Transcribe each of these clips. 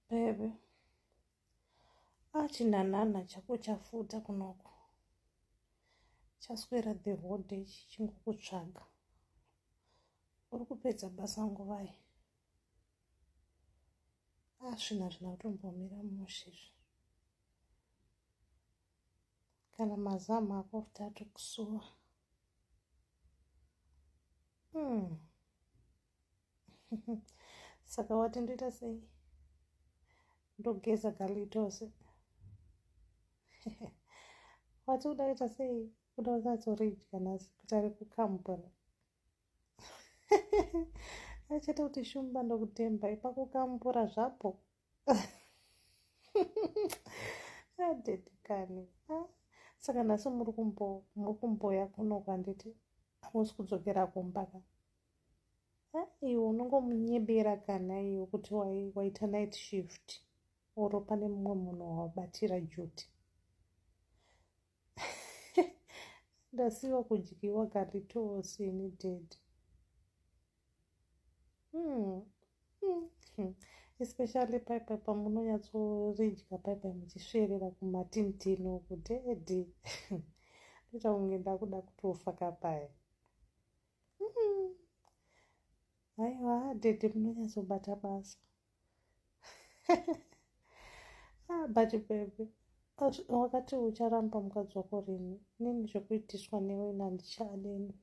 Bebe. Achinanana chako chafuta kunoko. Chaswera the whole day chichingokutsvaga. Uri kupedza basa nguvai. Asvina ah, zvina kutombomira mushe izvi. Kana mazamu ako futi atokusuwa. Hmm. saka wati ndoita sei ndogeza galitose wati uda kuita sei uda kukatsoridya nhasi kuti ari kukambura achaita kuti shumba ndokutemba ipakukambura zvapo adedikani ah, saka nhasi muri kumboya kuno kwanditi hamusi kudzokera kumba ka iwe unongomunyebera kana iwe kuti waita night shift oro pane mumwe munhu wawabatira juti ndasiwa kudyiwa galitosi ini ded hmm. hmm. hmm. especially paipai pamunonyatsoridya paipai muchisverera kumatintino kudedi ndoita kunge ndakuda kutofa kapaya aiwa hmm. dede munonyatsobata basa ah, but bebe wakati ucharamba mukadzi wako rini nini zvekuitiswa newe nandichadeni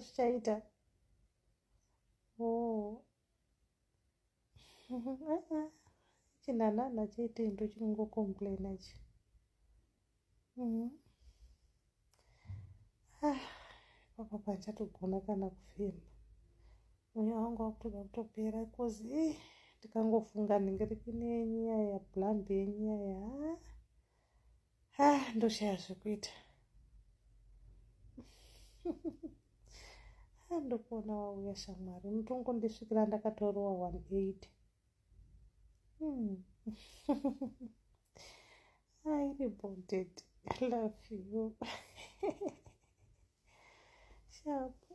zvichaita oh. chinanana chaite into chinongocomplaina chi mm-hmm. ah, papa panchatogona kana kufema mweya wangu wakutoda kutopera bcause eh, ndikangofunga ndingeriki nenyaya yablambi yenyaya ah. ah ndoshaya zvekuita ah, ndokuona wauya shamwari mutongo ndisvikira ndakatorowa 18 hmm. ah, iri bonded love you shapo